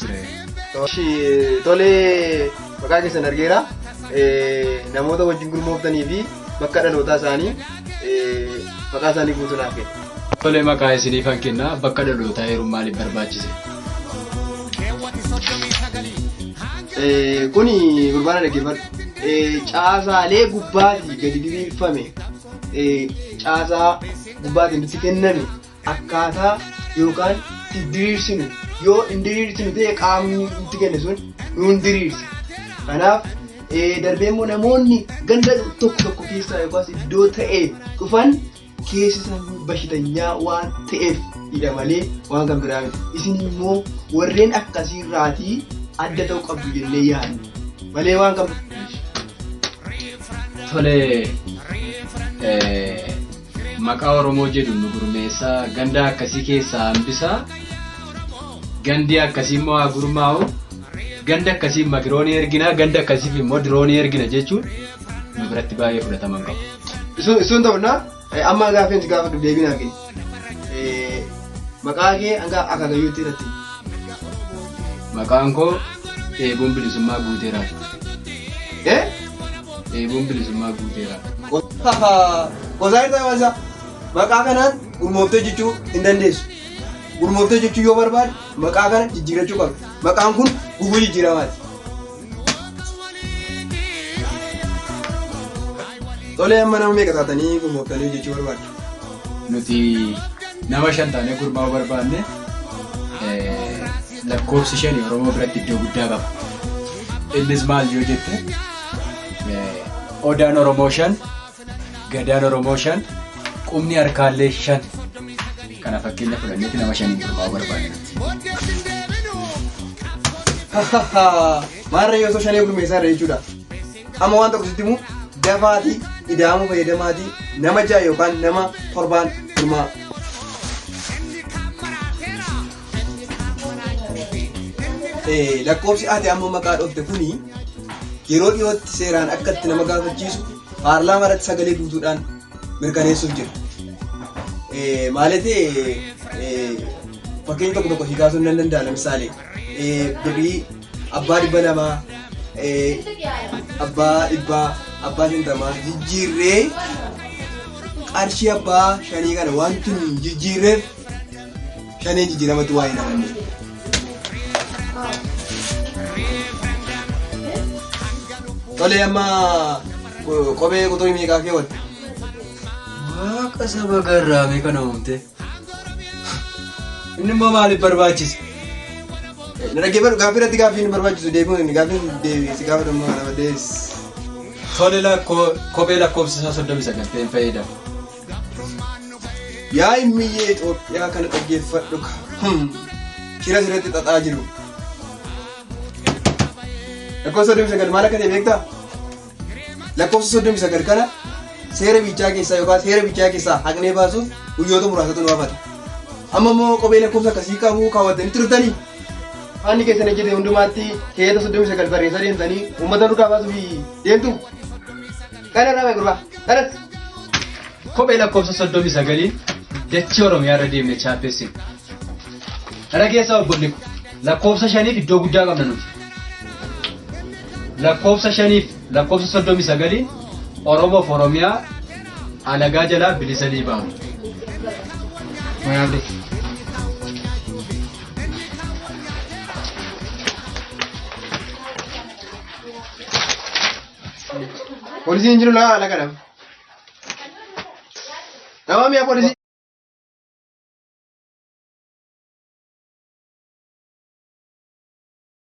jira. Tolee maqaa keessan argeera. Namoota wajjin gurmooftanii fi bakka dhalootaa isaanii maqaa isaanii guutuu naaf kenna. Tolee maqaa isiniif an kenna bakka dhalootaa heeruun maaliif barbaachise? Kuni gurbaana dhaggeeffadhu. Caasaalee gubbaatii gadi diriirfame caasaa gubbaatiin itti kenname. akkaataa yookaan itti diriirsinu yoo hin diriirsinu ta'e qaamni nutti kenne sun nuun diriirsa. Kanaaf eh, darbee immoo namoonni ganda tokko tokko keessaa yookaas iddoo ta'e dhufan keessi isaanii bashitanyaa waan ta'eef hidha malee waan kan biraa miti. Isin immoo warreen akkasii irraatii adda ta'uu qabdu jennee yaadna. Malee waan kan Tole eh, Maqaa oromoo jedhu nu gurmeessaa gandaa akkasii keessaa hambisaa gandii akkasii immoo haa gurmaa'u ganda akkasiif makiroonii ergina ganda akkasiif immoo diroonii ergina jechuun nu biratti baay'ee fudhatama hin qabu. Sun ta'u na amma gaaffiin si gaafadhu deebiin argine. Maqaa kee hanga akaakayyuutti irratti. Maqaan koo eeguun bilisummaa guuteeraati. Eh? Dheebuun bilisummaa guuteera. Qosaa irraa waansaa maqaa kanaan gurmooftee jechuu hin dandeessu. Gurmooftee jechuu yoo barbaade maqaa kana jijjiirachuu qabdu. Maqaan kun guguu jijjiiramaati. Tolee amma nama meeqa taatanii gurmooftanii jechuu barbaaddu? Nuti nama shan taanee gurmaa'uu barbaanne. lakkoofsi shani Oromoo biratti iddoo guddaa qaba. Innis maal yoo jette Odaan Oromoo shan, Gadaan Oromoo shan, qubni harkaallee shan. Kana fakkeenya fudhanneetti nama shaniin gurmaa'uu barbaadna. Maarree yoo osoo shanee gurmeessaa irra jechuudha. Amma waan tokko sitti immoo dafaatii ida'amuu fayyadamaatii nama ja'a yookaan nama torbaan gurmaa'a. Eh, lakkoofsi ati amma maqaa dhoofte kuni yeroo dhiyootti seeraan akka itti nama gaafachiisu paarlaamaa irratti sagalee guutuudhaan mirkaneessuuf jira. Eh, Maaliif eh, fakkeenya tokko tokko si kaasuun nan danda'a lamisaale eh, birrii abbaa dhibba lamaa eh, abbaa dhibbaa abbaa shantamaa jijjiirree qarshii abbaa shanii kana wanti hin jijjiirreef Shaneen jijjiiramatti waa'ee namoonni. Tolee amma ko- kophee quxurii meeqaa keewwatte? Waaqa saba garraamee kana uumte. Inni immoo maaliif barbaachise? Na dhaggeeffadhu gaaffii irratti gaaffii hin barbaachisu deebiin inni gaaffii deebiisi gaafa dhumma kana badees. Tole lakkoo kophee lakkoofsa isaa soddomii sagal ta'een fayyadama. Yaa immiyyee Itoophiyaa kana dhaggeeffadhu ka. Shira sirratti xaxaa jiru. Lakkoofsa soddomii sagal maal akka ta'e beektaa? Lakkoofsa soddomii sagal kana seera bichaa keessaa yookaan seera bichaa keessaa haqnee baasuuf guyyoota muraasatu nu hafata. Amma immoo kophee lakkoofsa akkasii qabu kaawwattanii turtanii? Haanni keessan ejjete hundumaatti keeyata soddomii sagal barreessaa deemtanii uummata duukaa baasuuf deemtu? Kana irraa mee gurbaa. Kanas. Kophee lakkoofsa soddomii sagaliin dachii Oromiyaa irra deemne chaappeessin. Kana keessaa obbolli ko lakkoofsa shaniif iddoo guddaa qabna nuti. Lakkoofsa shaniif lakkoofsa soddomii sagaliin Oromoof Oromiyaa alagaa jalaa bilisa ni baamu. Mayaabdi. Polisi hin jiru laa ala kadham. Dawaa mi'a polisi.